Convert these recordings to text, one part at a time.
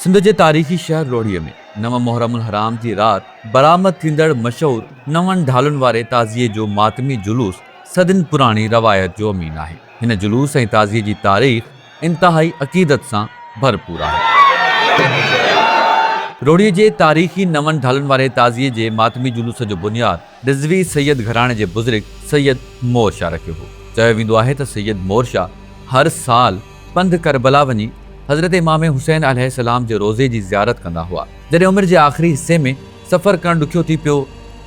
سنڌ جي تاريخي شهر روهڙيء ۾ نو محرم الحرام جي رات برآمد ٿيندڙ مشهور نون ڍالن واري تعزيي جو ماتمي جلوس صدين پراڻي روايت جو امين آهي. هن جلوس ۽ تعزيي جي تاريخ انتهائي عقيدت سان ڀرپور آهي. روهڙيء جي تاريخي نون ڍالن واري تعزيي جي ماتمي جلوس جو بنياد رضوي سيد گهراڻي جي بزرگ سيد مور شاهه رکيو هو. چيو ويندو آهي ته سيد مور شاهه هر سال پنڌ ڪربلا وڃي حضرت امام حسين عليه السلام جي روضي جي زيارت ڪندا هئا. جڏهن عمر جي آخري حصي ۾ سفر ڪرڻ ڏکيو ٿي پيو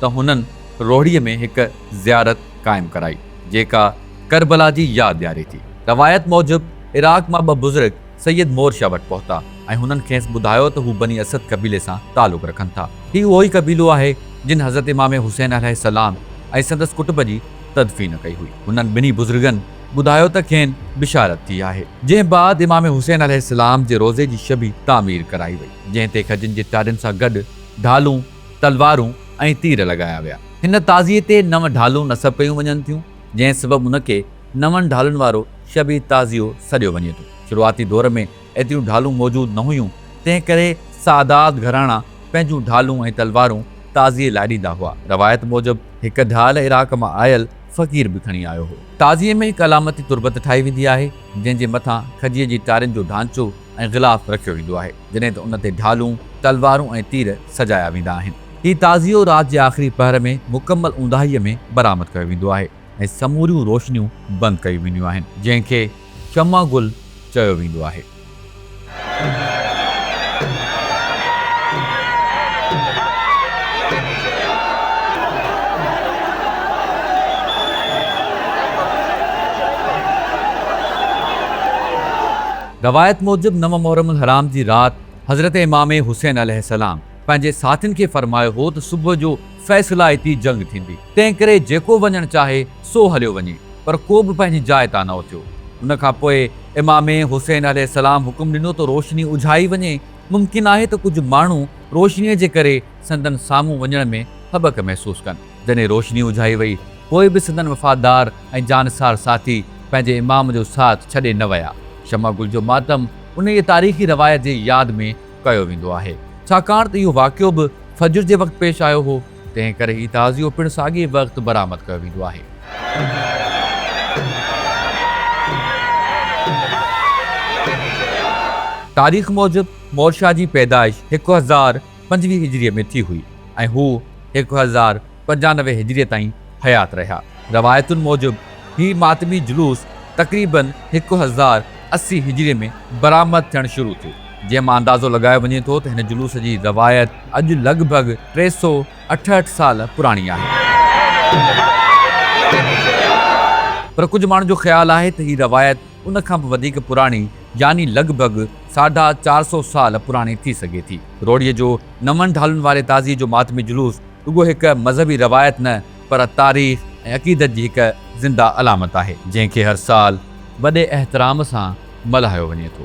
ته هنن روهڙيء ۾ هڪ زيارت قائم ڪرائي، جيڪا ڪربلا جي ياد ڏياري ٿي. روايت موجب عراق مان ٻه بزرگ، سيد مور شاهه وٽ پهتا ۽ هنن کيس ٻڌايو ته هو بني اسد قبيلي سان تعلق رکن ٿا. هي اهو ئي قبيلو آهي جن حضرت امام حسين عليه السلام ۽ سندس ڪٽب جي تدفين ڪئي هئي. هنن ٻنهي بزرگن ٻڌايو ته کين بشارت ٿي آهي. جنهن بعد امام حسين عليه السلام جي روضي جي شبي تعمير ڪرائي وئي، جنهن تي کجين جي ٽارين سان گڏ ڍالون، تلوارون ۽ تير لڳايا ويا. هن تعزيي تي نو ڍالون نصب ڪيون وڃن ٿيون، جنهن سبب ان کي نون ڍالن وارو شبيهه تعزيو سڏيو وڃي ٿو. شروعاتي دور ۾ ايتريون ڍالون موجود نه هيون، تنهن ڪري سادات گهراڻا پنهنجون ڍالون ۽ تلوارون تعزيي لاء ڏيندا هئا. روايت موجب هڪ ڍال عراق مان آيل فقير به کڻي آيو هو. تعزيي ۾ هڪ علامتي تربت ٺاهي ويندي آهي، جنهن جي مٿان کجيء جي ٽارين جو ڍانچو ۽ غلاف رکيو ويندو آهي، جڏهن ته ان تي ڍالون، تلوارون ۽ تير سجايا ويندا آهن. هي تعزيو رات جي آخري پهر ۾ مڪمل اونداهيء ۾ برآمد ڪيو ويندو آهي. ۽ سموريون روشنيون بند ڪيون وينديون آهن، جنهن کي شمع گل چيو ويندو آهي. روايت موجب نو محرم الحرام جي رات حضرت امام حسين عليه السلام، پنهنجي ساٿين کي فرمايو هو ته صبح جو فيصلائتي جنگ ٿيندي، تنهنڪري جيڪو وڃڻ چاهي سو هليو وڃي، پر ڪو به پنهنجي جاء تان نه اٿيو. ان کان پوء امام حسين عليه السلام حڪم ڏنو ته روشني اجهائي وڃي، ممڪن آهي ته ڪجهه ماڻهو روشنيء جي ڪري سندن سامهون وڃڻ ۾ هٻڪ محسوس ڪن. جڏهن روشني اجهائي وئي، پوء به سندن وفادار ۽ جانثار ساٿي پنهنجي امام جو ساٿ ڇڏي نه ويا. شمع گل جو ماتم انهيء تاريخي روايت جي ياد ۾ ڪيو ويندو آهي، ڇاڪاڻ ته اهو واقعو به فجر جي وقت پيش آيو هو، تنهن ڪري هي تعزيو پڻ ساڳئي وقت برآمد ڪيو ويندو آهي. تاريخ موجب مورشاه جي پيدائش هڪ هزار پنجويهه هجريء ۾ ٿي هئي ۽ هو هڪ هزار پنجانوي هجريء تائين حيات رهيا. روايتن موجب هي ماتمي جلوس تقريباً هڪ هزار اسي هجريء ۾ برآمد ٿيڻ شروع ٿيو، جنهن مان اندازو لڳايو وڃي ٿو ته هن جلوس جي روايت اڄ لڳ ڀڳ ٽي سؤ اٺهٺ سال پراڻي آهي. پر ڪجهه ماڻهن جو خيال آهي ته هي روايت ان کان به وڌيڪ پراڻي يعني لڳ ڀڳ ساڍا چار سؤ سال پراڻي ٿي سگهي ٿي. روهڙيء جو نون ڍالن واري تعزيي جو ماتمي جلوس، رڳو هڪ مذهبي روايت نه پر تاريخ ۽ عقيدت جي هڪ زنده علامت آهي، جنهن کي هر سال وڏي احترام سان ملهايو وڃي ٿو.